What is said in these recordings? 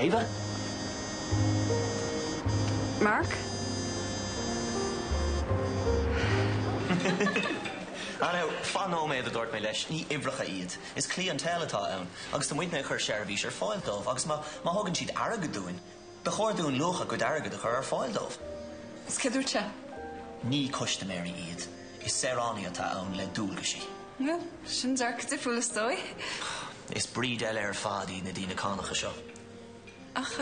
Ava? Mark? Ah now, fan nóiméad, a dúirt mé leis, ní uimhreacha iad. Is cliaint atá ann agus tá muide ag cur seirbhís ar fáil dóibh agus má, má thugann siad airgead dúinn, Ba chóir dúinn luach a gcuid airgid a chur ar fáil dóibh. Agus céard dúirt sé? Ní custaiméirí iad, is saoránaigh atá ann le dualgaisí. Bhuel, sin dearcadh difriúil is dóigh. Is breed eile ar fad iad na daoine cánacha seo. Ach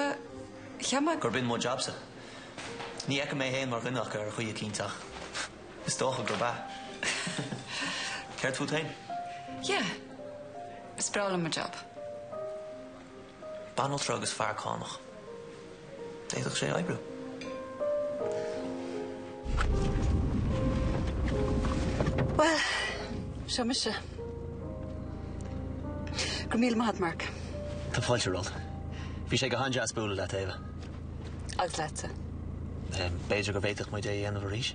cheap mé gur b'in mo jabsa. Ní fheicim mé féin mar dhuine acu ar chaoi eicínt ach is dócha gurb ea. Céard fút féin? Yeah, is breá liom mo jab. banaltra agus fear cánach. D'fhéadfadh sé oibriú. Bhuel, seo mise. Go raibh míle maith agat, Mark. Tá fáilte romhat. Bhí sé go han-deas bualadh leat, Ava. Agus leatsa. B'fhéidir go bhféadfadh muid é a dhéanamh arís?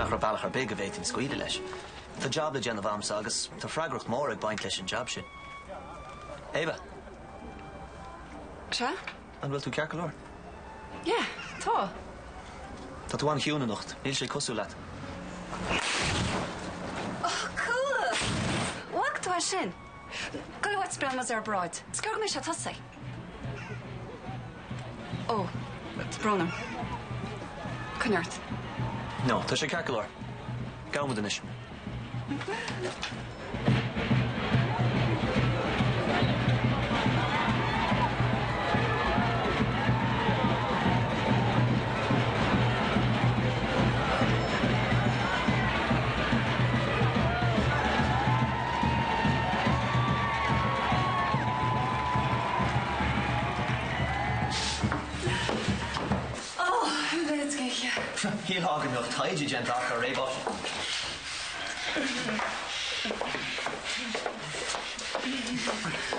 Ach ní raibh bealach ar bith go bhféadfainn scaoileadh leis. Tá jab le déanamh agamsa agus tá freagracht mhór ag baint leis an jab sin. Ava? Sea? An bhfuil tú ceart go leor? Yeah, tá. Tá tú an-chiúin anocht. Níl sé cosúil leat. Oh, cool! Bhac tú as sin? Go raibh maith a'd. Bíonn muid ar bráid. Sciorr mise, tosaigh. Ó, tá brón orm. Coinne ort. No, tá sé ceart go leor. Gabhfaidh muid anois. Shílfeá go mbeadh taighde déanta acu ar réabhlóid.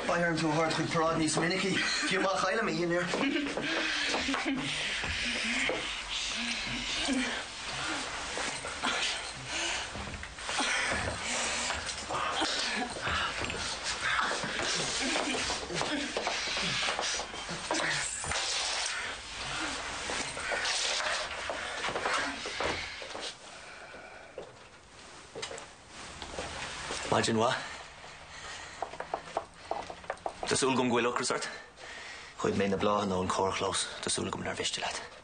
Beidh orm tú a thabhairt chuig paráid níos minicí, fiú má chaillim mo dhinnéar. Maidin mhaith. Tá súil agam go bhfuil ocras ort. Ghoid mé na bláthanna ón carrchlós. Tá súil agam nár mhiste leat.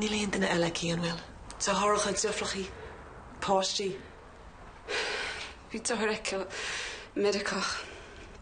Níl aon duine eile aici, an bhfuil? Deartháireacha, deirfiúracha, páistí? Bhí deartháir aici i Meiriceá.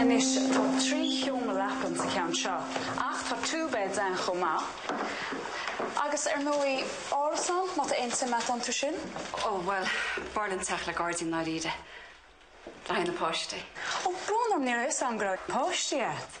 Anois tá trí sheomra leapan sa cheann seo ach tá two beds ann chomh maith agus ar ndóigh árasán má tá aon tsuim a'd iontu sin. Ó bhuel, b'fhearr liom teach le gairdín i ndáiríre le haghaidh na páistí. Ó, brón orm ní raibh a fhios a'm go raibh páistí a'd.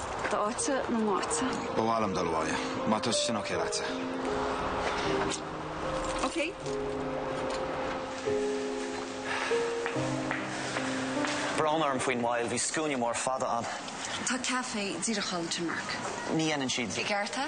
D'áitse nó m'áitse? Ba mhaith liom dul abhaile. Má tá sé sin ok leatsa. Ok. Brón orm faoin moill. Bhí scuaine mór fada ann. Tá caife díreach ann, Tim Mark. Ní dhéanann siad i gceart é?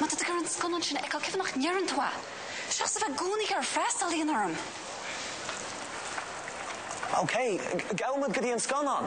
Má tá tú ag iarraidh an scannán sin a fheiceáil, cén fáth nach ndeireann tú é, seachas a bheith i gcónaí ag cur frustration orm? OK, gabhfaidh muid go dtí an scannán!